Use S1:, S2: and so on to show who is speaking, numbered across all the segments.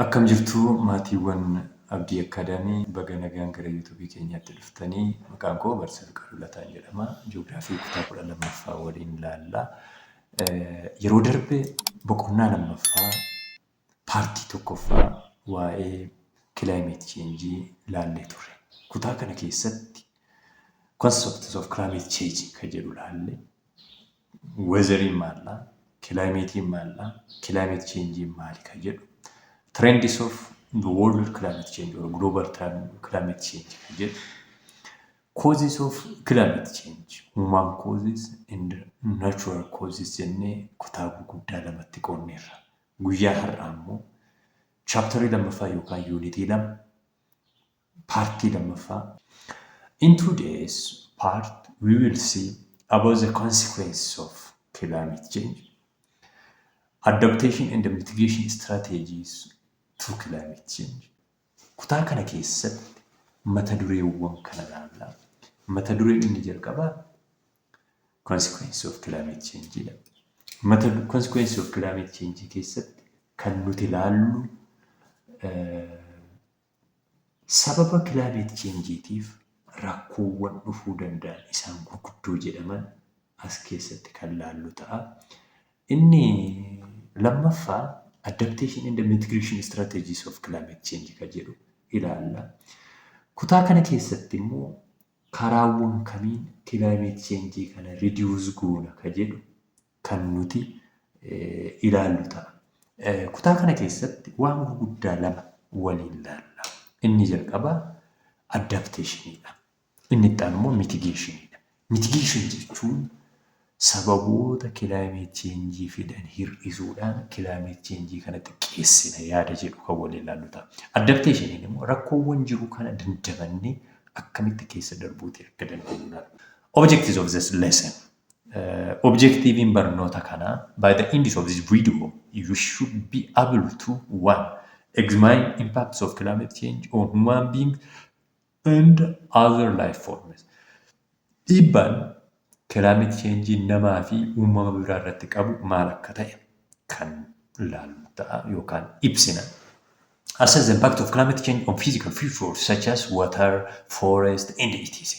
S1: Akkam jirtu maatiiwwan Abdii Academy baga nagaan gara YouTube keenyaatti dhuftanii maqaan koo Barsiisaa Fiqaaduu Lataan jedhama Ji'oogiraafii kutaa 12ffaa waliin ilaalla yeroo darbe boqonnaa lammaffaa paartii tokkoffaa waa'ee climate change ilaallee turre kutaa kana keessatti concepts of climate change kan jedhu ilaalle Weezariin maalla? Kilaayimeetiin maalla? Climate change maali kan jedhu? Trends of the world climate change or global climate change kan jedhu? Causes of climate change, human causes and natural causes jennee kutaa gurguddaa lamatti qoonneerra. Guyyaa har'aa immoo chaaptarii lammaffaa yookaan yuunitii lama Paartii lammaffaa In two days part we will see about the consequences of climate change, adaptation and mitigation strategies to climate change. Kutaa kana keessatti mata dureewwan kana ilaalla. Mata dureen inni jalqabaa consequences of climate change dha. Mata du- consequences of climate change keessatti kan nuti ilaallu eh, Sababa kilaabeet cheenjiitiif rakkoowwan dhufuu danda'an isaan gurguddoo jedhaman as keessatti kan laallu ta'a. Inni lammaffaa adaptation and mitigation strategies of climate change kan jedhu ilaalla. Kutaa kana keessatti immoo karaawwan kamiin kilaabeet cheenjii kana ridiwuus goona kan jedhu kan nuti ilaallu ta'a. Kutaa kana keessatti waan gurguddaa lama waliin ilaalla. Inni jalqabaa adapteeshiniidha. Inni itti aanu immoo mitigeeshiniidha. Mitigeeshin jechuun sababoota kilaayimeet cheenjii fidan hir'isuudhaan kilaayimeet cheenjii kana xiqqeessina yaada jedhu kan waliin ilaallu ta'a. Adapteeshiniin immoo rakkoowwan jiru kana dandamannee akkamitti keessa darbuuti akka dandeenyu ilaalla. Objectives of this lesson Objektiiviin barnoota kanaa By the end of this video, you should be able to 1. Examine impacts of climate change on human beings and other life forms. Dhiibbaan climate change namaa fi uumama biraa irratti qabu maal akka ta'e kan ilaallu ta'a yookaan ibsina. Assess the impact of climate change on physical features such as water, forest, and etc.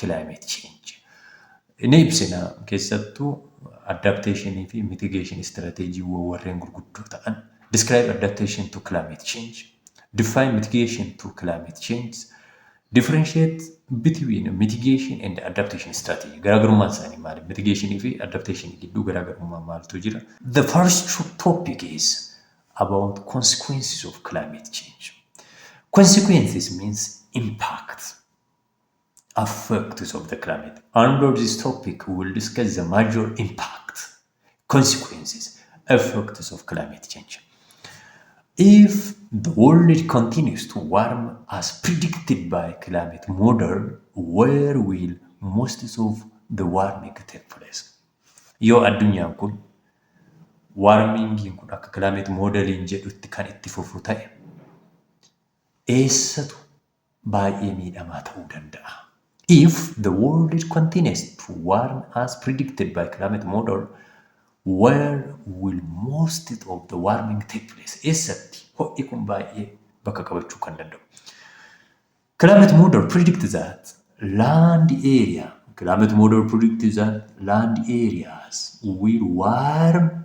S1: climate change ni ibsina keessattuu adaptation fi mitigation strategy warreen gurguddoo ta'an describe adaptation to climate change define mitigation to climate change differentiate between mitigation and adaptation strategy garaagarummaan isaanii maali mitigation fi adaptation gidduu garaagarummaa maaltu jira the first topic is about consequences of climate change consequences means impact effects of the climate. Under this topic, we will discuss the major impacts, consequences, effects of climate change. If the world continues to warm as predicted by climate model, where will most of the warming take place? Yoo addunyaan kun warmingiin kun akka climate modeliin jedhutti kan itti fufu ta'e eessatu baay'ee miidhamaa ta'uu danda'a. If the world continues to warm as predicted by climate model, where will most of the warming take place? Eessatti ho'i kun baay'ee bakka qabachuu kan danda'u? Climate model predict that land area climate model predict that land areas will warm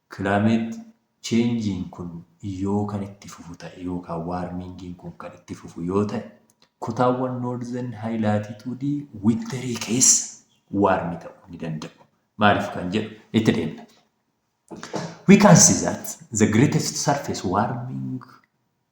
S1: Climate change'n kun yoo kan itti fufu ta'e yookaan warming'n kun kan itti fufu yoo ta'e, kutaawwan northern high latitude winter keessa warm ta'uu ni danda'u. Maaliif kan jedhu itti deemna. We can see that the greatest surface warming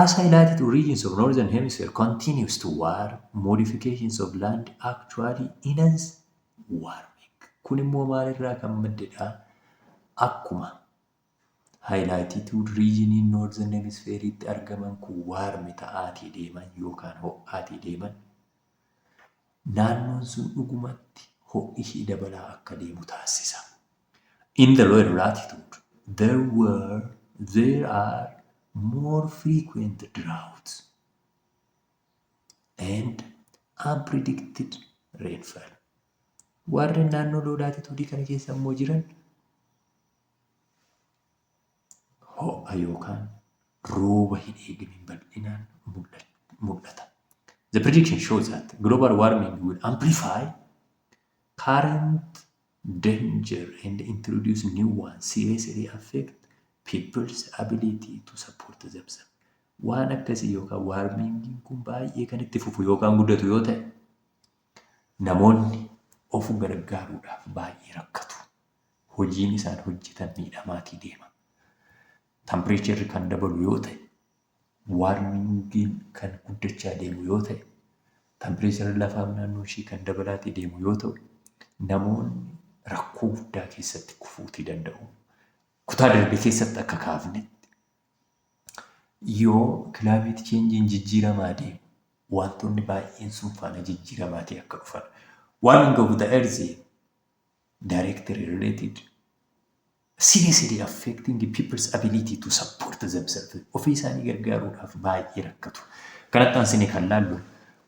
S1: As highlighted, origins of Northern Hemisphere continues to war, modifications of land actually enhance warming. Kun immoo maalirraa kan maddedha? Akkuma highlighted regioniin Northern Hemisphere itti argaman kun warm ta'aatii deeman yookaan ho'aatii deeman naannoon sun dhugumatti ho'i ishii dabalaa akka deemu taasisa. In the lower latitude, there were, there are more frequent droughts and unpredicted rainfall. Warreen naannoo low latitude kana keessa immoo jiran ho'a yookaan rooba hin eegne bal'inaan mul'ata. The prediction shows that global warming will amplify current danger and introduce new one seriously affect people's ability to support themselves. Waan akkasii yookaan waarmiingiin kun baay'ee kan itti fufu yookaan guddatu yoo ta'e namoonni of gargaaruudhaaf baay'ee rakkatu. Hojiin isaan hojjetan miidhamaatii deema. Tampireecharri kan dabalu yoo ta'e Waarmingiin kan guddachaa deemu yoo ta'e, tampireecharri lafaa naannoo ishee kan dabalaati deemu yoo ta'u, namoonni rakkoo guddaa keessatti kufuutii danda'u. Kutaa darbe keessatti akka kaafnetti yoo kilaameet cheenjiin jijjiiramaa deemu wantoonni baay'een sun faana jijjiiramaatii akka dhufan. Warming of the earth directly related Seriously affecting people's ability to support themselves, ofii isaanii gargaaruudhaaf baay'ee rakkatu. Kanatti aansinee kan laallu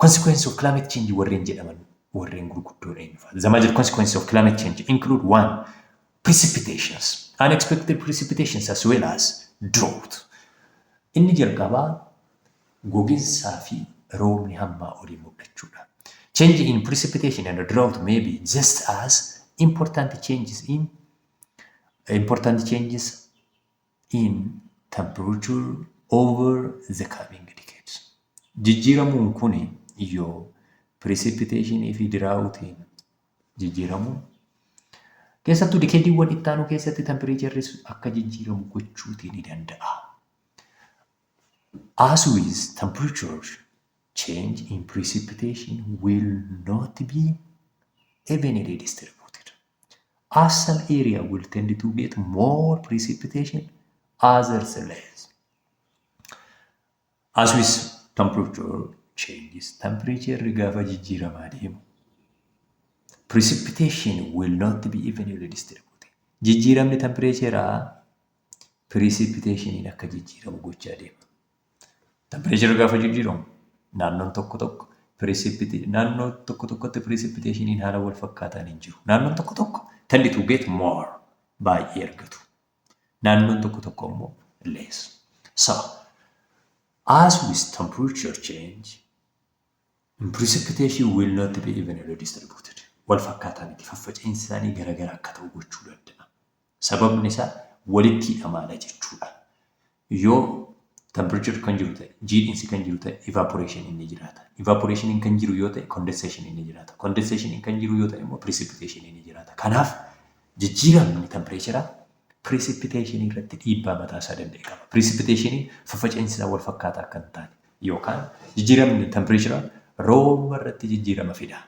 S1: consequences of climate change warreen jedhaman warreen gurguddoon eenyu fa'a? The major consequences of climate change include one precipitations, unexpected precipitations as well as drought. Inni jalqabaa goginsaa fi roobni hammaa olii mul'achuudha. Change in precipitation and drought may be just as important changes in important changes in temperature over the coming decades. Jijjiiramuun kun yoo precipitation fi diraawutiin jijjiiramuun keessattuu dikeediiwwan itti aanu keessatti tempereecherris akka jijjiiramu gochuutii ni danda'a. As with temperature change in precipitation will not be evenly distributed. Asal area will tend to get more precipitation others less. As with temperature changes, temperature gaafa jijjiiramaa deemu. Precipitation will not be evenly distributed. Jijjiiramni tempireecheeraa precipitation akka jijjiiramu gochaa deema. Tampireechara gaafa jijjiiramu naannoon tokko tokko piriisipite naannoo tokko tokkotti piriisipiteeshiniin haala wal fakkaataan hin jiru. Naannoon tokko tokko tend to get more baay'ee argatu. Naannoon tokko tokko immoo less. So, as with temperature change, precipitation will not be evenly distributed. Wal fakkaataa miti faffaca'iinsi isaanii garaagara akka ta'u gochuu danda'a. Sababni isaa walitti hidhamaadha jechuudha. Yoo temperature kan jiru ta'e, jiidhinsi kan jiru ta'e evaporation inni jiraata. Evaporation kan jiru yoo ta'e condensation inni jiraata. Condensation kan jiru yoo ta'e immoo precipitation inni jiraata. Kanaaf jijjiiramni temperature precipitation irratti dhiibbaa mataa isaa danda'e qaba. Precipitation faffaca'insi isaa wal fakkaataa akka hin taane yookaan jijjiiramni temperature rooba irratti jijjiirama fida.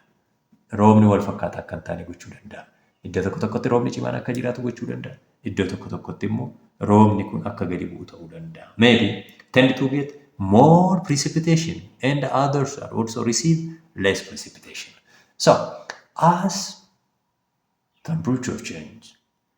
S1: Roobni wal fakkaataa akka hin taane gochuu danda'a. Iddoo tokko tokkotti roobni cimaan akka jiraatu gochuu danda'a. Iddoo tokko tokkotti immoo roobni kun akka gadi bu'u ta'uu danda'a. Maybe tend to get more precipitation and others are also receive less precipitation. So, as temperature change,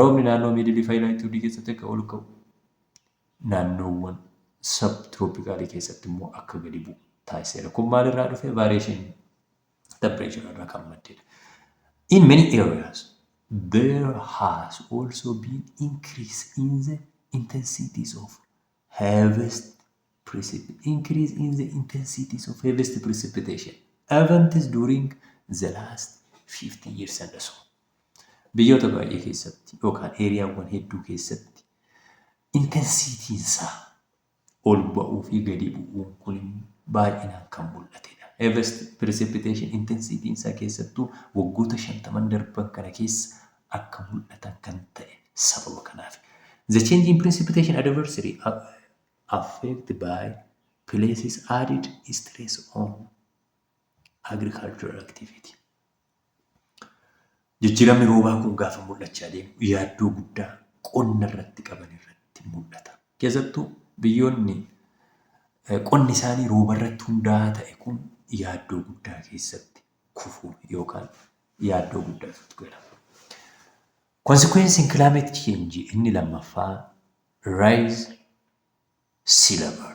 S1: Roobni naannoo Miidil fi Laatituudii keessatti akka ol ka'u, naannoowwan sab-tirooppikaalii keessatti immoo akka gadi bu'u taasiseera. Kun maalirraa dhufe? Variation temperature irraa kan maddedha. In many areas, there has also been increase in the intensities of harvest precipitation. Increase in the intensities of harvest precipitation events during the last 50 years and so. Biyyoota baay'ee keessatti yookaan eeriyaawwan hedduu keessatti intensiitiinsaa ol ba'uu fi gadi bu'uun kun baay'inaan kan mul'atedha. Everest precipitation intensiitiinsaa keessattuu waggoota shantaman darban kana keessa akka mul'atan kan ta'e sababa kanaafi. The change in precipitation adversely affect by places added stress on agricultural activity. Jijjiiramni roobaa kun gaafa mul'achaa deemu yaaddoo guddaa qonna irratti qaban irratti mul'ata. Keessattuu biyyoonni qonni isaanii rooba irratti hundaa'aa ta'e kun yaaddoo guddaa keessatti kufu yookaan yaaddoo guddaa keessatti gala. Konsikweensiin kilaameet cheenjii inni lammaffaa raayis silabar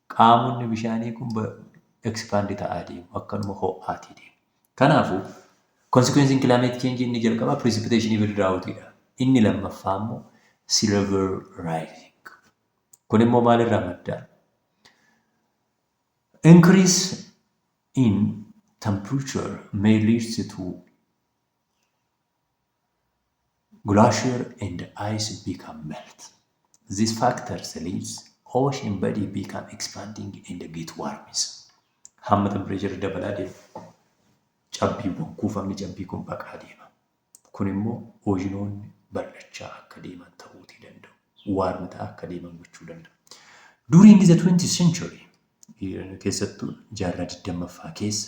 S1: Qaamonni bishaanii kun expand ta'aa deemu. Akkanuma ho'aatii deemu. Kanaafuu consequence in climate change inni jalqabaa precipitation even drought dha. Inni lammaffaa immoo sea level rising. Kun immoo maalirraa madda? Increase in temperature may lead to Glacier and ice become melt. This factors leads ocean body become expanding and get warms. Hamma tempereecherri dabalaa deemu cabbiiwwan kuufamni cabbii kun baqaa deema. Kun immoo oojinoonni bal'achaa akka deeman ta'uutii danda'u. Waarmi ta'aa akka deeman gochuu danda'a. During the 20th century keessattuu jaarraa 20ffaa keessa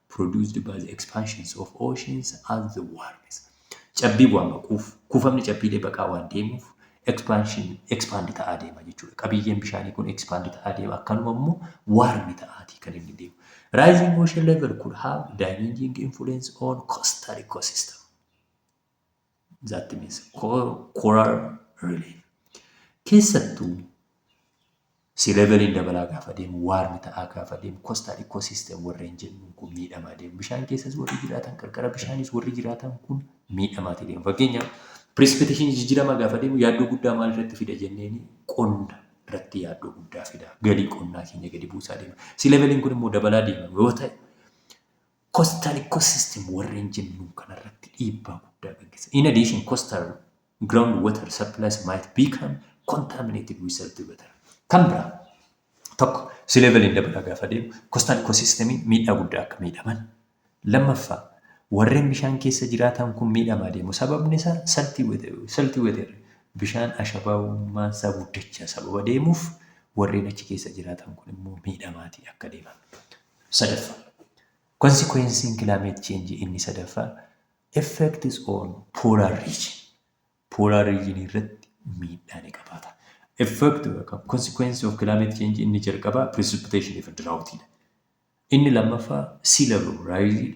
S1: produced by the expansions of oceans as the warms. Cabbii bu'aa maquuf, kuufamni cabbiilee baqaa waan deemuuf expansion expand ta'aa deema jechuudha. Qabiyyeen bishaanii kun expand ta'aa deema akkanuma immoo warm ta'aatii kan inni deemu. Rising ocean level could have damaging influence on coastal ecosystem. that means coral relief keessattuu si leveliin dabalaa gaafa deemu waarmi ta'aa gaafa deemu coastal ecosystem warreen jennuun kun miidhamaa deemu bishaan keessas warri jiraatan qarqara bishaanis warri jiraatan kun miidhamaati deemu fakkeenyaaf precipitation jijjiiramaa gaafa deemu yaaddoo guddaa maal irratti fida jenneeni qonna irratti yaaddoo guddaa fida galii qonnaa keenya gadi buusaa deema si leveliin kun immoo dabalaa deema yoo ta'e Coastal ecosystem warreen jennuun kanarratti dhiibbaa guddaa gaggeessa. In addition, coastal ground water supplies might become contaminated with salty water. Kan biraa tokko sea level hin dabalaa gaafa deemu coastal ecosystem miidhaa guddaa akka miidhaman. Lammaffaa warreen bishaan keessa jiraatan kun miidhamaa deemu. Sababni isaa salty water, salty water bishaan ashabaawummaan isaa guddachaa sababa deemuuf warreen achi keessa jiraatan kun immoo miidhamaatii akka deeman. sadaffaa. Konsikweensiin kilaameet cheenjii inni sadaffaa effects on polar region. Polar region irratti miidhaa ni qabaata. Effect yookaan consequence of climate change inni jalqabaa precipitation if drought dha. Inni lammaffaa sea level rise dha.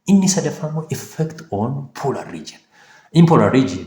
S1: Inni sadaffaa immoo effect on polar region. In polar region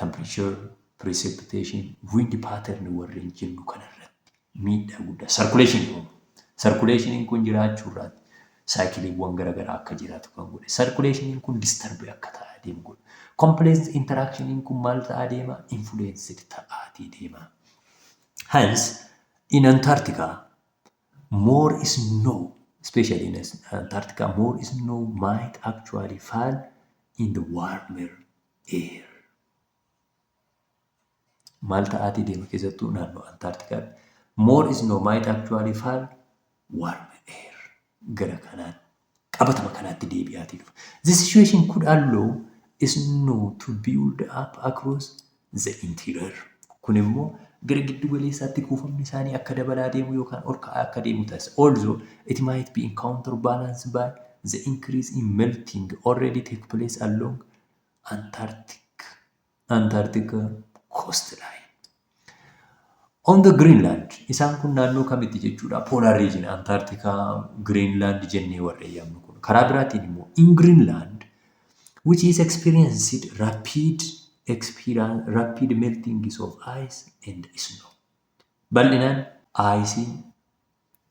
S1: temperature, precipitation, wind pattern warreen jennu kana irratti miidhaa guddaa circulation kun circulation kun jiraachuu irraatti saayikiliiwwan gara garaa akka jiraatu kan godhe circulation kun disturb akka ta'aa deemu godhe complex interaction kun maal ta'aa deema influenced ta'aatii deema hence in Antarctica more snow especially in Antarctica more snow might actually fall in the warmer Air. Maal ta'aatii deema keessattuu naannoo Antaartikaatti. More is no might actually fall warm air. Gara kanaan qabatama kanaatti deebi'aatii dhufa. The situation could allow snow to build up across the interior. Kun immoo gara giddu galeessaatti kuufamni isaanii akka dabalaa deemu yookaan ol ka'aa akka deemu taasisa. Although it might be in counterbalance by the increase in melting already take place along Antarctic, Antarctica coastline. On the Greenland, isaan kun naannoo kamitti jechuudha? Polar region, Antarctica, Greenland jennee warra eeyyamnu kun. Karaa biraatiin immoo, in Greenland, which is experienced rapid, experience, rapid melting of ice and snow. Bal'inaan aayisiin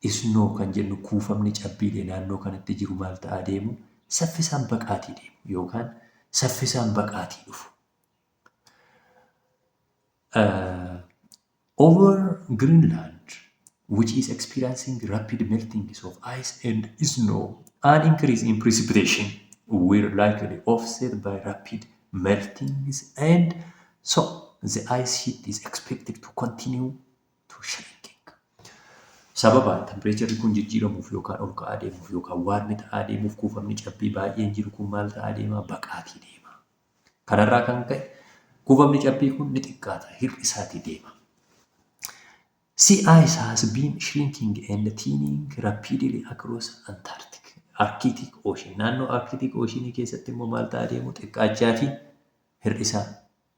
S1: Isnoo kan jennu kuufamni cabbiilee naannoo kanatti jiru maal ta'aa deemu? Saffisaan baqaatii deemu yookaan saffisaan baqaatii dhufu. Uh, over Greenland, which is experiencing rapid meltings of ice and snow, an increase in precipitation will likely offset by rapid meltings and so the ice sheet is expected to continue to shrinking. Sababa tempireecharri kun jijjiiramuuf yookaan ol ka'aa deemuuf yookaan waarmi ta'aa deemuuf kuufamni cabbii baay'een jiru kun maal ta'aa deema? Baqaatii deema. Kanarraa kan ka'e kuufamni cabbii kun ni xiqqaata, hir'isaatii deema. Sea ice has been shrinking and thinning rapidly across Antarctic, Arctic Ocean. Naannoo Arctic Ocean keessatti immoo maal ta'aa deemu? Xiqqaachaatii hir'isaa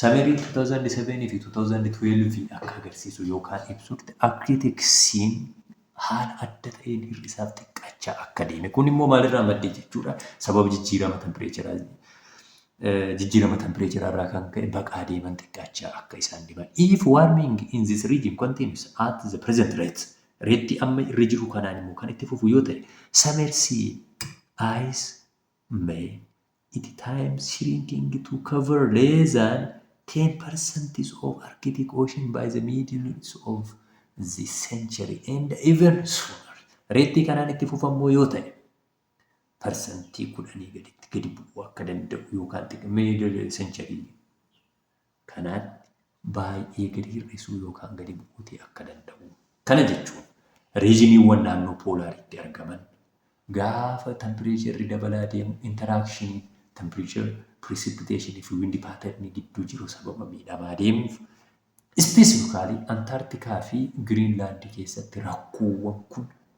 S1: Summary 2007 fi 2012 akka agarsiisu yookaan ibsutti Akkiriteeksiin haala adda ta'een hir'isaaf xiqqaachaa akka deeme. Kun immoo maalirraa madde jechuudha? Sababa jijjiirama tempireecharaa jijjiirama tempireecharaa irraa kan ka'e baqaa deeman xiqqaachaa akka isaan deeman. If warming in this region continues at the present rate reettii amma irra jiru kanaan immoo kan itti fufu yoo ta'e samersi ice may Iti time shrinking to cover less than 10 percent of Arctic Ocean by the middle of this century and even sooner. Reettii kanaan itti fufa immoo yoo ta'e parsantii kudhanii gaditti gadi bu'uu akka danda'u yookaan xiqqoo middle century kanaatti baay'ee gadi hir'isuu yookaan gadi bu'uutii akka danda'u. Kana jechuun riijiniiwwan naannoo poolaariitti argaman gaafa tampireecherri dabalaa deemu interaakshiniin temperature, precipitation fi wind pattern gidduu jiru sababa miidhamaa deemuuf ispeesifikaalii Antaartikaa fi Giriinlaandi keessatti rakkoowwan kun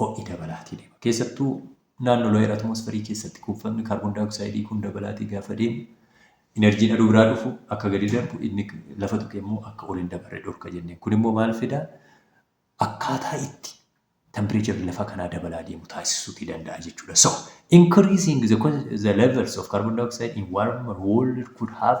S1: ho'i dabalaatii deema. Keessattuu naannoo looyer atmoosferii keessatti kuufamni kaarboon daayooksaayidii kun dabalaatii gaafa deemu inerjiin aduu biraa dhufu akka gadi darbu inni lafa tuqe immoo akka ol hin dabarre dhorka jenneen. Kun immoo maal fida? Akkaataa itti tempireecharri lafa kanaa dabalaa deemu taasisuutii danda'a jechuudha. So, increasing the, the levels of carbon dioxide in warmer world could have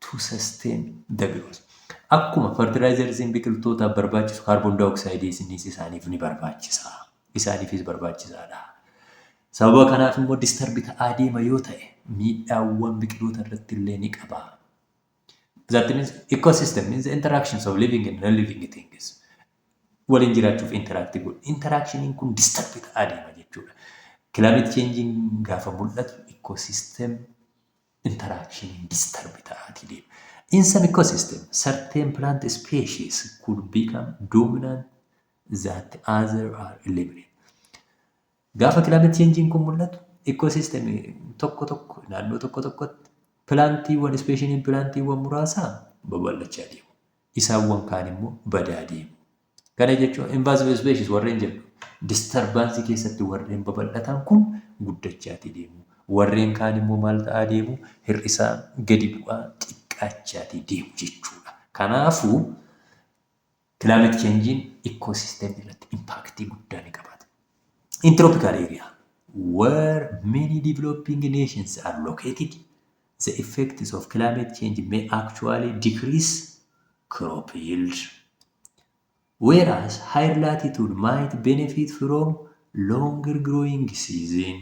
S1: to sustain the growth. Akkuma fertilizersiin biqiltootaaf barbaachisu carbon dioxide isinis isaaniif ni barbaachisa. Isaaniifis barbaachisaadha. Sababa kanaaf immoo disturb ta'aa deema yoo ta'e miidhaawwan biqiloota irratti illee ni qaba. That means ecosystem means the interactions of living and non-living things. Waliin jiraachuuf interact godhu. Interactioniin kun disturb ta'aa deema jechuudha. Climate changing gaafa mul'atu ecosystem interaction disturb ta'aatii deema. In some ecosystem, certain plant species could become dominant that other are eliminated. Gaafa climate change kun mul'atu ecosystem tokko tokko naannoo tokko tokkotti pilaantiiwwan ispeeshiniin pilaantiiwwan muraasaa babal'achaa deemu. Isaawwan kaan immoo badaa deemu. Kana jechuun invasive species warreen jedhu disturbance keessatti warreen babal'atan kun guddachaati deemu. Warreen kaan immoo maal ta'aa deemu? Hir'isaa gadi bu'aa xiqqaachaati deemu jechuudha. Kanaafuu climate change'n ecosystem irratti impact guddaa ni qabaata. In tropical area where many developing nations are located, the effects of climate change may actually decrease crop yield. whereas higher latitude might benefit from longer growing season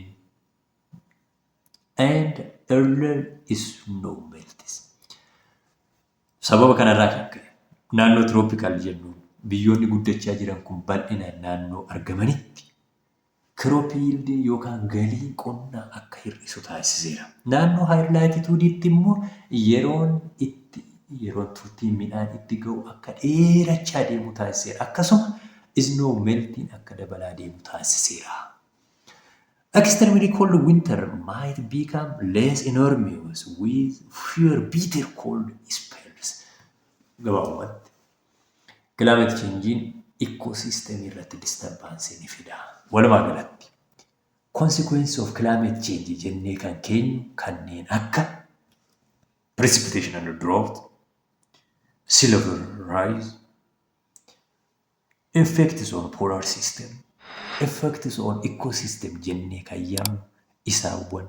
S1: and earlier snow melts. Sababa kanarraa kan ka'e naannoo tropical jennuun biyyoonni guddachaa jiran kun bal'inaan naannoo argamanitti Crop yield yookaan galiin qonnaa akka hir'isu taasiseera. Naannoo higher latitude tti immoo yeroon itti yeroon turtiin midhaan itti ga'u akka dheerachaa deemu taasiseera. Akkasuma snow meltiin akka dabalaa deemu taasiseera. Extremely cold winter might become less enormous with fewer bitter cold spells. Gabaabumatti Climate change'n ecosystem irratti disturbance ni fida. Walumaa galatti consequence of climate change jennee kan keenyu kanneen akka precipitation and drought, sea level rise, effects on polar system, effects on ecosystem jennee kan yaamnu isaawwan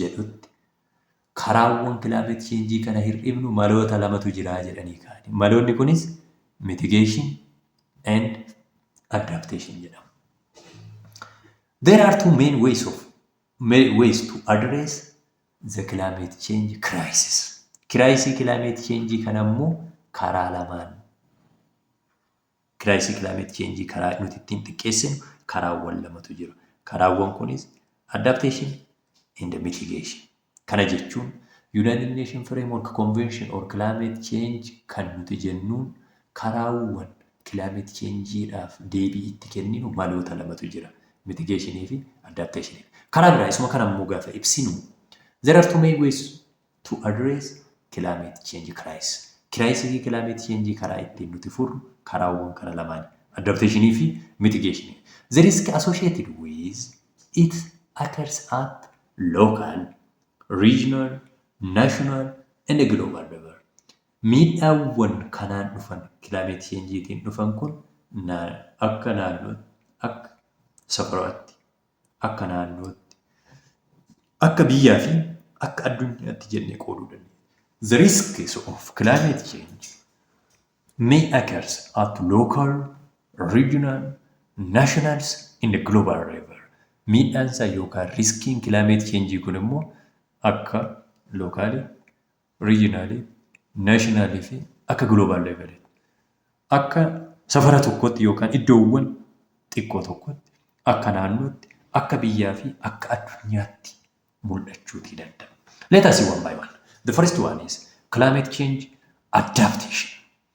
S1: jedhutti, karaawwan climate change kana hir'ifnu maloota lamatu jira jedhanii kaa'ani. Maloonni kunis mitigation and adaptation jedhamu. There are two main ways of main ways to address the climate change crisis. Kiraayisii climate change kana immoo karaa lamaan Kiraayisii kilaayimeet cheenjii karaa nuti ittiin xiqqeessinu karaawwan lamatu jira. Karaawwan kunis adaptation and mitigation. Kana jechuun United Nation Framework Convention or Climate Change kan nuti jennuun karaawwan kilaayimeet cheenjiidhaaf deebii itti kenninu maloota lamatu jira. Mitigation fi adaptation. Karaa biraa isuma kana immoo gaafa ibsinu there are two main ways to address climate change crisis. Kiraayisii climate change karaa ittiin nuti furru karaawwan kana lamaani. Adaptation fi mitigation. The risk associated with it occurs at local, regional, national and global level. Miidhaawwan kanaan dhufan climate change tiin dhufan kun akka naannootti akka safaro'atti Akka naannootti, akka biyyaa fi akka addunyaatti jennee qooduu dandeenya. The risks of climate change may occurs at local, regional, nationals and global level. Miidhaan isaa yookaan riskiin climate change kun immoo akka lookaalii, regionally, nationally fi akka global level akka safara tokkotti yookaan iddoowwan xiqqoo tokkotti akka naannootti akka biyyaa fi akka addunyaatti mul'achuutii danda'a. Let us see one by one. The first one is climate change adaptation.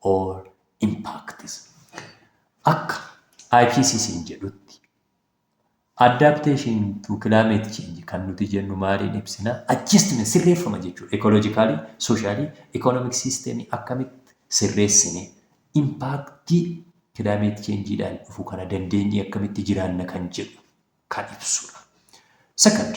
S1: or impacts. Akka IPCC jedhutti adaptation to climate change kan nuti jennu maaliin ibsina adjustment sirreeffama jechuudha ekolojikaalii soshaalii ekonomik siisteemii akkamitti sirreessine impaaktii climate changeedhaan dhufu kana dandeenyee akkamitti jiraanna kan jedhu kan ibsudha. Second,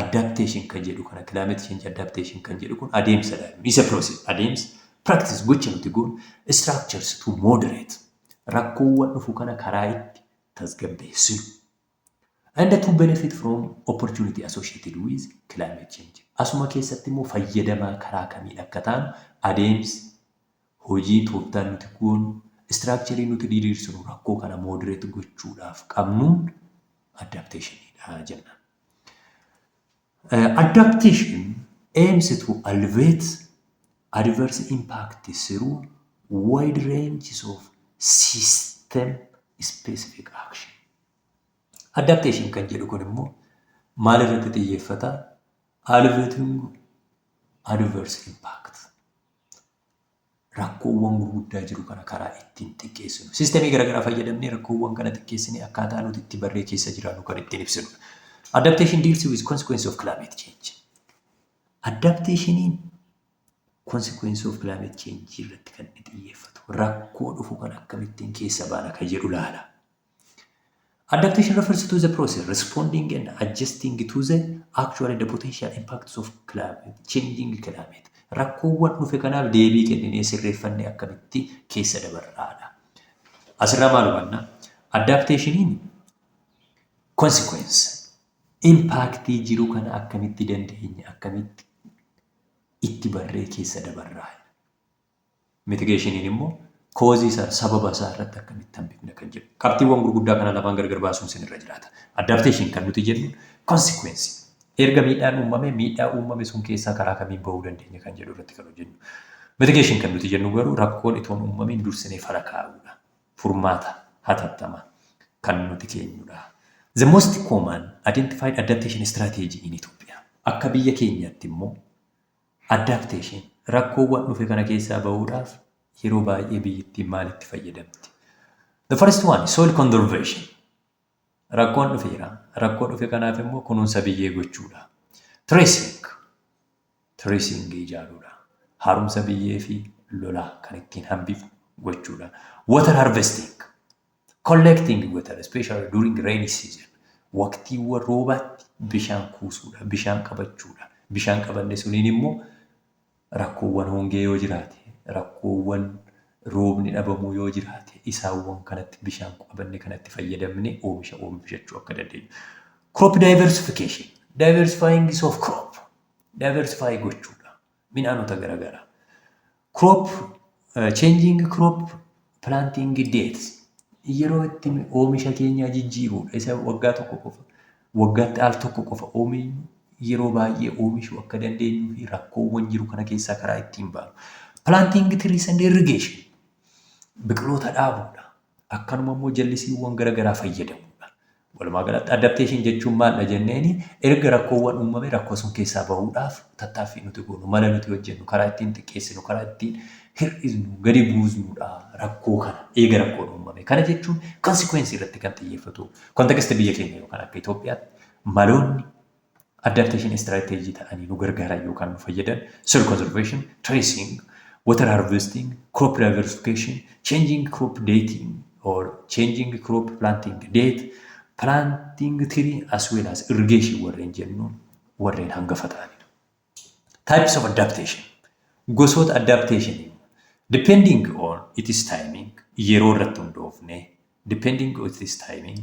S1: Adaptation kan jedhu kana climate change adaptation kan jedhu kun adeemsa dha. Isa process adeemsa practice gocha nuti goonu structures to moderate rakkoowwan dhufu kana karaa itti tasgabbeessinu. And to benefit from opportunity associated with climate change. Asuma keessatti immoo fayyadamaa karaa kamiin akka taanu adeemsi hojii tooftaan nuti goonu structure nuti diriirsinu rakkoo kana moderate gochuudhaaf qabnuun adaptation dha jenna. Adaptation aims to alleviate adverse impact through wide ranges of system specific action. Adaptation kan jedhu kun immoo maal irratti xiyyeeffata? Alleviating adverse impact. rakkoowwan gurguddaa jiru kana karaa ittiin xiqqeessinu. Sistemii garaagaraa fayyadamnee rakkoowwan kana xiqqeessinee akkaataa nuti itti barree keessa jiraannu kan ittiin ibsinudha. Adaptation deals with consequence of climate change. Adaptationiin consequence of climate change irratti kan inni xiyyeeffatu rakkoo dhufu kan akkamittiin keessa baana kan jedhu laala. Adaptation refers to the process responding and adjusting to the actual and the potential impacts of climate, changing climate. Rakkoowwan dhufe kanaaf deebii kenninee sirreeffannee akkamitti keessa dabarraadha. Asirraa maal hubanna? Adaptationiin consequence impaaktii jiru kana akkamitti dandeenye akkamitti itti barree keessa dabarraa. Mitigeeshiniin immoo koozii isaa, sababa isaa irratti akkamitti hambifna kan jedhu. Qabxiiwwan gurguddaa kana lamaan gargar baasuun isin irra jiraata. Adaptation kan nuti jennu consequence. Erga miidhaan uumame miidhaa uumame sun keessaa karaa kamiin bahuu dandeenya kan jedhu irratti kan hojjennu. Mitigation kan nuti jennu garuu rakkoon itoon uumamiin dursinee fala kaa'uudha. Furmaata hatattamaa kan nuti keenyudha. The most common identified adaptation strategy in Ethiopia. Akka biyya keenyaatti immoo Adaptation, Rakkoowwan dhufe kana keessaa bahuudhaaf yeroo baay'ee biyyittiin maal itti fayyadamti? The first one, soil conservation. Rakkoon dhufeera. Rakkoo dhufe kanaaf immoo kunuunsa biyyee gochuudha. Tracing, tracing ijaaruudha. Haaromsa biyyee fi lolaa kan ittiin hambifnu gochuudha. Water harvesting, Collecting water, especially during rainy season. Waqtiiwwan roobaatti bishaan kuusuudha, bishaan qabachuudha. Bishaan qabanne suniin immoo rakkoowwan hongee yoo jiraate, rakkoowwan roobni dhabamuu yoo jiraate, isaawwan kanatti bishaan qabanne kanatti fayyadamne oomisha oomishachuu akka dandeenyu. Crop diversification, diversifying of crop, diversify gochuudha. midhaanota garagaraa. Crop changing crop planting dates yeroo itti oomisha keenyaa jijjiiruudha. Isa waggaa tokko qofa waggaatti al tokko qofa oomishnu yeroo baay'ee oomishuu akka dandeenyuu fi rakkoowwan jiru kana keessaa karaa ittiin baanu. Planting trees and irrigation biqiloota dhaabuudha. Akkanuma immoo jallisiiwwan garagaraa fayyadamuudha. Walumaa galatti adaptation jechuun maaldha jenneeni erga rakkoowwan uumame rakkoo sun keessaa bahuudhaaf tattaaffii nuti goonu mala nuti hojjennu karaa ittiin xiqqeessinu karaa ittiin hir'isnu gadi buusnudha rakkoo kana eega rakkoon uumame kana jechuun consequence irratti kan xiyyeeffatu context biyya keenya yookaan akka Itoophiyaatti maloonni adaptation istirateejii ta'anii nu gargaaran yookaan nu fayyadan soil conservation, tracing, water harvesting, crop diversification, changing crop dating or changing crop planting date, planting tree as well as irrigation warreen jennu warreen hangafa ta'anidha. Types of adaptation gosoota adaptation depending on its timing yeroo irratti hundoofne depending on its timing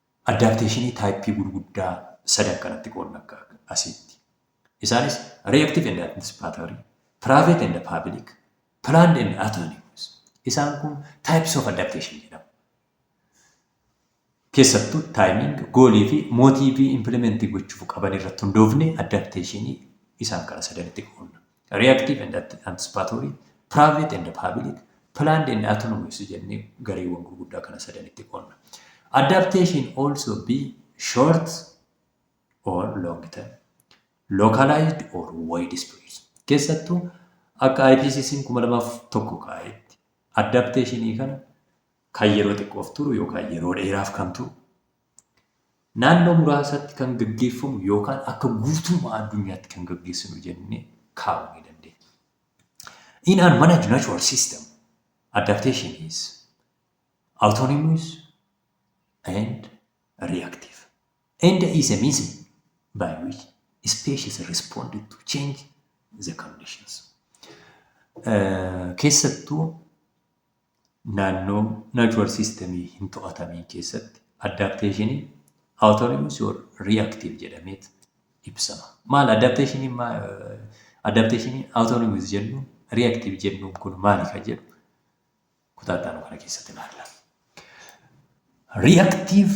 S1: Addaapteeshinii taayippii gurguddaa sadan kanatti qoodna akka asiitti. Isaanis reactive and anticipatory, private and public, planned and autonomous. Isaan kun types of adaptation jedhamu. Keessattuu timing, goolii fi mootiivii implementii gochuuf qaban irratti hundoofne addaapteeshinii isaan kana sadanitti qoodna. reactive and anticipatory, private and public, planned and autonomous jennee gareewwan gurguddaa kana sadanitti qoonna. Adaptation also be short or long term, localized or wide spread. Keessattuu akka IPCC 2001 kaa'etti adaptationii kana kan yeroo xiqqoof turu yookaan yeroo dheeraaf kan turu Naannoo muraasatti kan gaggeeffamu yookaan akka guutummaa addunyaatti kan gaggeessinu jennee kaa'uu ni dandeenya. In an managed natural system, adaptation is autonomous and reactive and is a means by which species respond to change the conditions. Eh, Keessattuu Naannoo natural system hin to'atamiin keessatti adaptation autonomous or reactive jedhameet ibsama. Maal adaptation ma adaptation autonomous jennu reactive jennuun kun maali kan jedhu kutaa itti aanu kana keessatti ilaalla. Reactive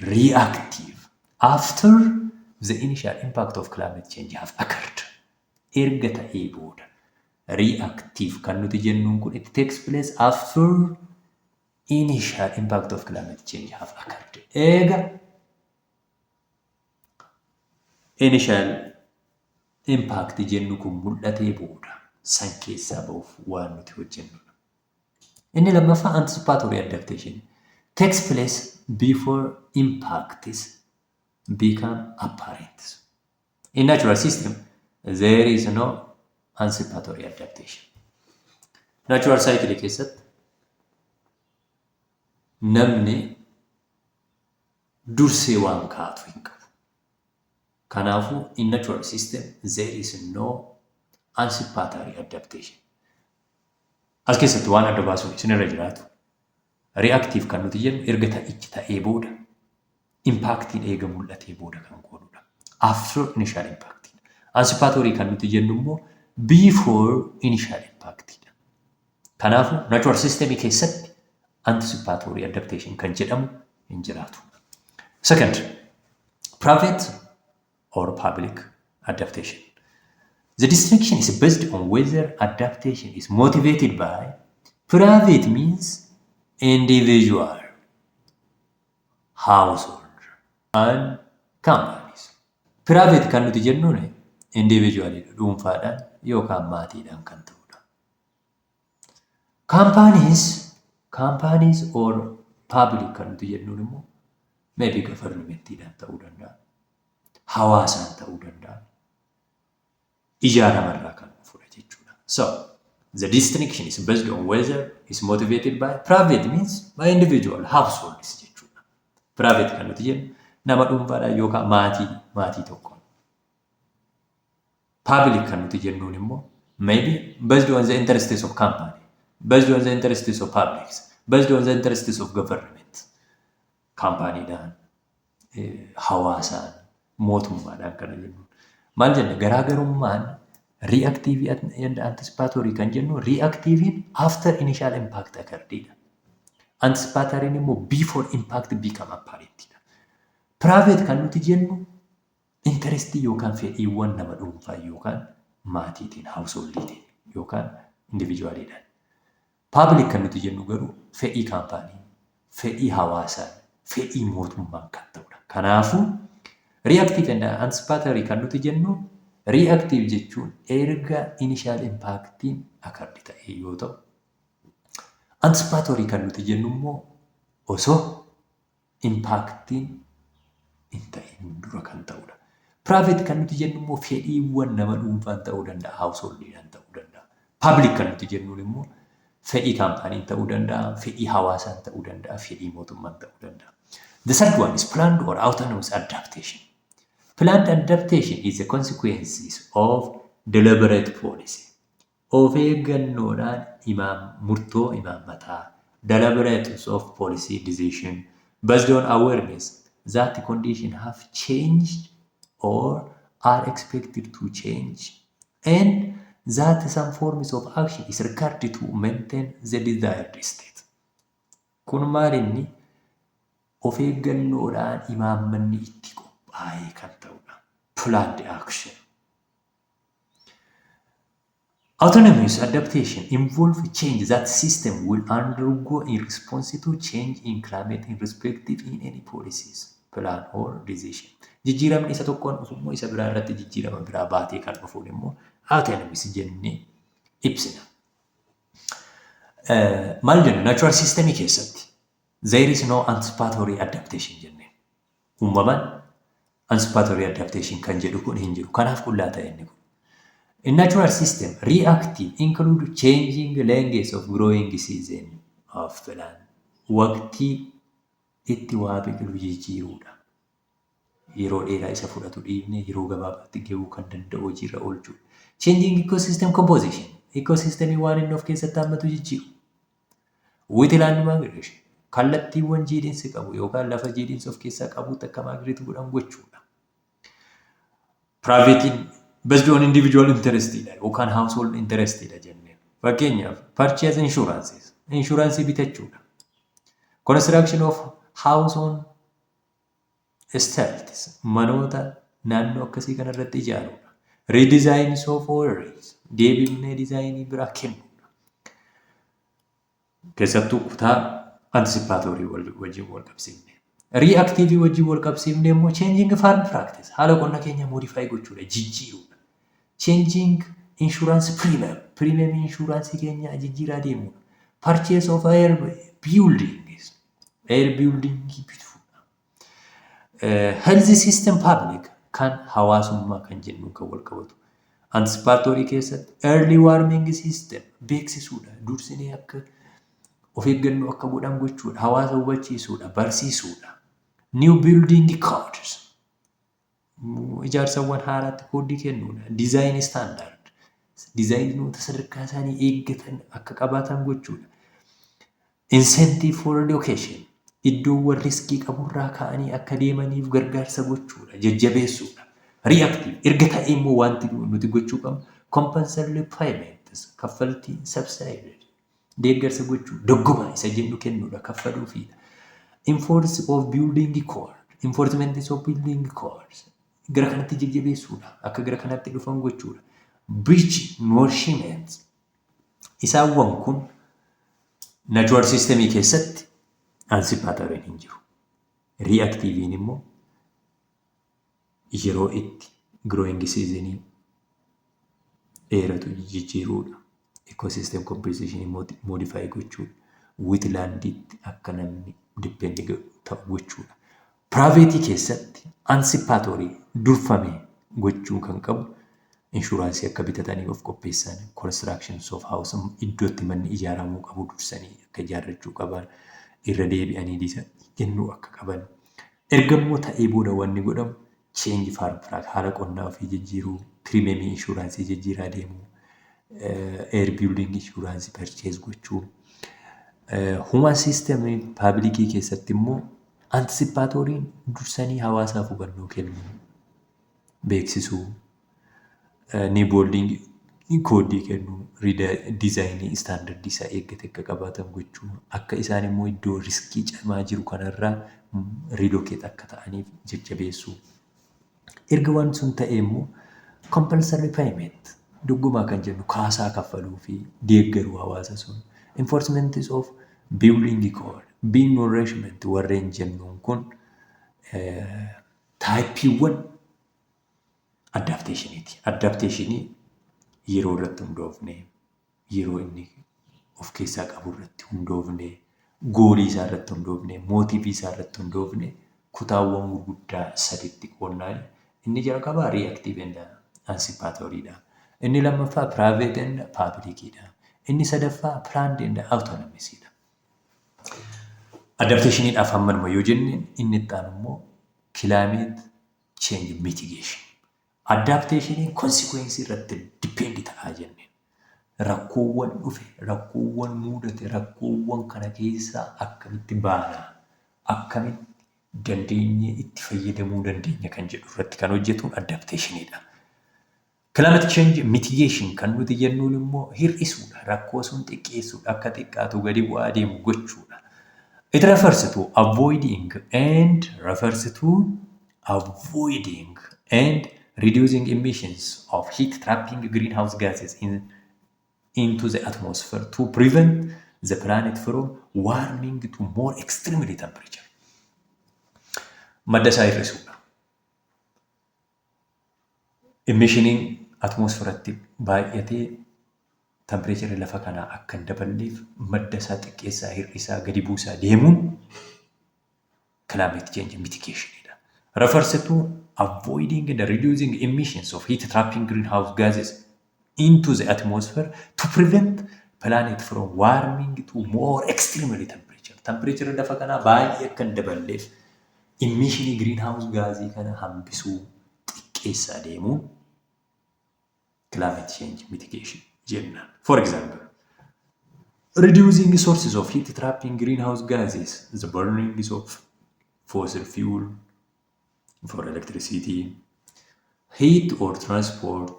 S1: reactive after the initial impact of climate change have occurred. Erga ta'ee booda. Reactive kan nuti jennuun kun it takes place after initial impact of climate change have occurred. Eega initial impact jennu kun mul'atee booda san keessaa ba'uuf waan nuti hojjennudha. Inni lammaffaa anticipatory adaptation. Takes place before impacts become apparent. In natural system, there is no anticipatory adaptation. Natural cycle keessatti namni dursee waan kaatu hin qabu. Kanaafuu in natural system there is no anticipatory adaptation. As keessatti waan adda baasuun isinirra jiraatu reactive kan nuti jennu erga ta'ichi ta'ee booda impaaktiin eega mul'atee booda kan goonudha. After initial impact. Anticipatory kan nuti jennu immoo before initial impact dha. Kanaafuu natural system keessatti anticipatory adaptation kan jedhamu hin jiraatu. Second, private or public adaptation. The distinction is based on whether adaptation is motivated by private means, individual, household, and companies. Private kan nuti jennuun individual dhuunfaadhaan yookaan maatiidhaan kan ta'udha. Companies, companies or public kan nuti jennuun immoo maybe gafarnimenttiidhaan ta'uu danda'a. Hawaasaan ta'uu danda'a. Ijaa namarraa kan dhufudha jechuudha. So, the distinction is based on whether is motivated by private means by individual households jechuudha. Private kan nuti jennu nama dhuunfaadhaan yookaan maatii maatii tokkoon Public kan nuti jennuun immoo maybe based on the interests of company, based on the interests of publics, based on the interests of government. Kaampaaniidhaan, hawaasaan, mootummaadhaan kana jennuun. Maal jenna? Garaagarummaan reactive and anticipatory kan jennu reactivein after initial impact occurredidha. Anticipatoriin immoo before impact become apparentidha. Private kan nuti jennu Interest yookaan fedhiiwwan nama dhuunfaa yookaan maatiitiin, householdiitiin yookaan individually dhaan. Public kan nuti jennu garuu fedhii kaampaaniin, fedhii hawaasaan, fedhii mootummaan kan ta'udha. Kanaafuu reactive and anticipatory kan nuti jennu reactive jechuun erga initial impacttiin occurred ta'ee yoo ta'u, anticipatory kan nuti jennu immoo osoo impaaktiin hin ta'in dura kan ta'udha. Private kan nuti jennu immoo fedhiiwwan nama dhuunfaan ta'uu danda'a, householdidhaan ta'uu danda'a. Public kan nuti jennuun immoo fedhii kaampaaniin ta'uu danda'a, fedhii hawaasaan ta'uu danda'a, fedhii mootummaan ta'uu danda'a. The third one is planned or autonomous adaptation. Planned adaptation is a consequences of deliberate policy. Of eeggannoodhaan imaam murtoo imaammataa, deliberateness of policy decision, based on awareness that conditions have changed or are expected to change, and that some forms of action is required to maintain the desired state. Kun maal inni? Of eeggannoodhaan imaammanni itti qophaa'ee kan ta'udha. Planned action. Autonomous adaptation involve change that system will undergo in response to change in climate in respective in any policies, plan or decision. Jijjiiramni isa tokkoon dhufu immoo isa biraa irratti jijjiirama biraa baatee kan dhufuun immoo autonomous jennee ibsina. Maal jenna? Natural system keessatti there is no anticipatory adaptation jennee. uumaman anticipatory adaptation kan jedhu kun hin jiru. Kanaaf qullaa ta'e inni kun. A natural system reactive include changing lengths of growing season of plant. Waqtii itti waa biqilu jijjiiruudha. Yeroo dheeraa isa fudhatu dhiifnee yeroo gabaabaatti gahuu kan danda'u hojiirra oolchuudha. Changing ecosystem composition. Ecosystemii waan inni of keessatti hammatu jijjiiru. With land migration kallattiiwwan jiidhinsi qabu yookaan lafa jiidhinsi of keessaa qabuutti akka maagireetu godhan gochuudha. Piraayiveetiin based on individual interest dha yookaan household interest dha jenneen. Fakkeenyaaf purchase insurances inshuraansii bitachuudha. Construction of house on Stilts, manoota naannoo akkasii kana irratti ijaaruudha. Redesign softwares, deebifnee dizaayinii biraa kennuudha. Keessattuu kutaa anticipatory wal- wajjin wal qabsiifne. Reactive wajjin wal qabsiifne immoo changing farm practice haala qonna keenya modify gochuudha, jijjiiruudha. Changing insurance premium, premium insurance keenya jijjiiraa deemuudha. Purchase of air buildings, Air building bitful. Health system public kan hawaasummaa kan jennu kan wal qabatu. Anticipatory keessatti early warming system beeksisuudha. Dursinee akka of eeggannoo akka godhan gochuudha. Hawaasa hubachiisuudha. Barsiisuudha. New building codes ijaarsawwan haaraatti koodii kennuudha. Diizaayin istaandaard diizaayinoota sadarkaa isaanii eeggatan akka qabaatan gochuudha. Insentive for education iddoowwan riskii qaburraa ka'anii akka deemaniif gargaarsa gochuudha. Jajjabeessuudha. Reactive erga ta'e immoo wanti nuti gochuu qabnu compensatory payments kaffaltii subsidized Deeggarsa gochuu, doggoma isa jennu kennuudha, kaffaluufiidha. Enforce of building code, enforcements of building codes. Gara kanatti jajjabeessuudha, akka gara kanatti dhufan gochuudha. Bridge nourishment. Isaawwan kun natural system keessatti anticipatory hin jiru. Reactive immoo yeroo itti growing season dheeratu jijjiiruudha. Ecosystem composition immoo modify gochuudha. Witlanditti akka namni depend ta'u gochuudha. Private keessatti anticipatory durfame gochuu kan qabu inshuraansii akka bitatanii of qopheessan constructions of house iddootti manni ijaaramuu qabu dursanii akka ijaarrachuu qaban irra deebi'anii disa kennuu akka qaban Ergammoo ta'ee booda wanni godhamu change farm track haala qonnaa ofii jijjiiruu, pirimemii inshuraansii jijjiiraa deemuu, air building inshuraansii purchase gochuu, human system paabilikii keessatti immoo antisipaatooriin dursanii hawaasaaf hubannoo kennuu, beeksisuu, ni booldiingi koodii kennuu diizaayinii istaandardii isaa eeggate akka qabaatan gochuu akka isaan immoo iddoo riskii cimaa jiru kanarraa riilokeet akka ta'aniif jajjabeessuu. Erga waan sun ta'e immoo compulsory payment doggomaa kan jennu kaasaa kaffaluu fi deeggaruu hawaasa sun enforcements of building code being nourishment warreen jennuun kun taayippiiwwan addaapteeshiniiti. Addaapteeshinii yeroo irratti hundoofne, yeroo inni of keessaa qabu irratti hundoofne, goolii isaa irratti hundoofne, mootiivii isaa irratti hundoofne kutaawwan gurguddaa saditti qoodna. Inni jalqabaa riyaaktiivii and ansipaatooriidha. Inni lammaffaa piraayiveet and paabilikiidha. Inni sadaffaa piraand and awutonomisiidha. Addaapteeshiniidhaaf hammanuma yoo jenne inni itti aanu immoo kilaayimeet change mitigation. Adaptation consequence irratti depend ta'a jenneen. Rakkoowwan dhufe, rakkoowwan muudate, rakkoowwan kana keessaa akkamitti baana, akkamitti dandeenyee itti fayyadamuu dandeenya kan jedhu irratti kan hojjetuun adaptation dha. Climate change mitigation kan nuti jennuun immoo hir'isuudha, rakkoo sun xiqqeessuudha, akka xiqqaatu gadi bu'aa deemu gochuudha. It refers to avoiding and refers to avoiding and reducing emissions of heat trapping greenhouse gases in, into the atmosphere to prevent the planet from warming to more extremely temperature. Madda isaa hir'isuudha. Imishiniin atmoosferatti baay'ate tampireecharri lafa kanaa akka hin daballeef madda isaa xiqqeessaa, hir'isaa, gadi buusaa deemuun climate change mitigation dha. Refers to avoiding and reducing emissions of heat trapping greenhouse gases into the atmosphere to prevent planet from warming to more extremely temperature. Temperature lafa kanaa baay'ee akka hin daballeef immishinii green house gaazii kana hambisuu xiqqeessa adeemuun climate change mitigation jenna. For example, reducing sources of heat trapping greenhouse gases, the burning of fossil fuel, for electricity, heat or transport,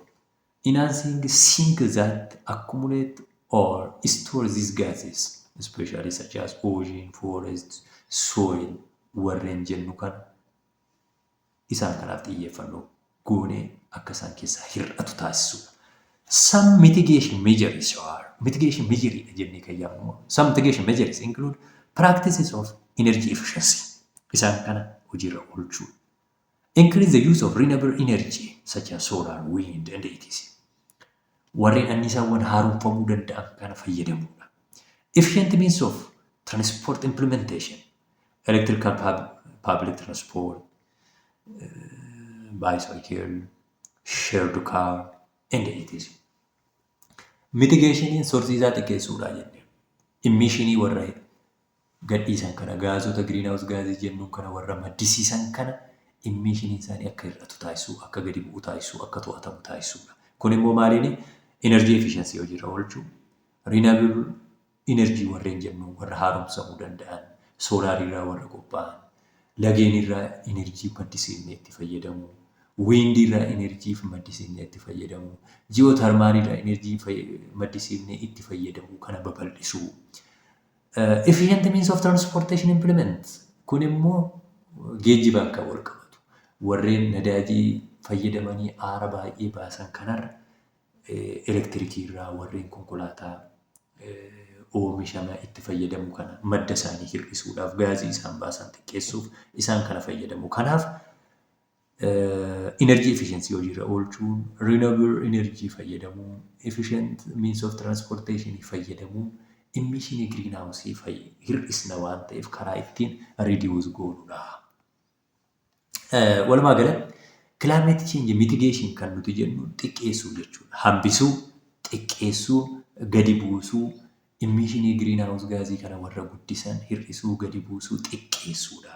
S1: enhancing sink that accumulate or store these gases, especially such as ocean, forest, soil warreen jennu kan isaan kanaaf xiyyeeffannoo goonee akka isaan keessaa hir'atu taasisuudha. Some mitigation measures are mitigation measure dha jennee kan yaamnu. Some mitigation measures include practices of energy efficiency. Isaan kana hojiirra oolchuu. Increase the use of renewable energy such as solar, wind and etc. warreen anniisaawwan haaromfamuu danda'an kana fayyadamuu dha. Efficient means of transport implementation, electrical pub, public transport, bicycle, shared car, and etc. Mitigationiin sorsii isaa xiqqeessuu dha jennee. Immishinii warra gadhiisan kana, gaazota giriinhaawus gaazii jennuun kana warra maddisiisan kana immiishiniin isaanii akka hir'atu taasisuu, akka gadi bu'u taasisuu, akka to'atamu taasisuudha. Kun immoo maaliini? Energy efficiency hojiirra oolchuu, renewable energy warreen jennu warra haaromsamuu danda'an, soolaariirraa warra qophaa'an, lageenirraa energy maddisiifnee itti fayyadamuu, wiindiirraa energy maddisiifnee itti fayyadamuu, ji'ootarmaaliirraa energy maddisiifnee itti fayyadamuu kana babal'isuu, Efficient means of transportation implement kun immoo geejjibaan kan wal qabatu. Warreen nadaajii fayyadamanii aara baay'ee baasan kanarra elektirikii irraa warreen konkolaataa oomishama itti fayyadamu kana madda isaanii hir'isuudhaaf gaazii isaan baasan xiqqeessuuf isaan kana fayyadamu. Kanaaf Energy efficiency hojiirra oolchuun, renewable energy fayyadamuun, efficient means of transportation fayyadamuun emission green house hir'isna waan ta'eef karaa ittiin reduce goonudha. Walumaa gala climate change mitigation kan nuti jennu xiqqeessuu jechuudha. Hambisuu, xiqqeessuu, gadi buusuu, emission green house gaazii kana warra guddisan hir'isuu, gadi buusuu, xiqqeessuudha.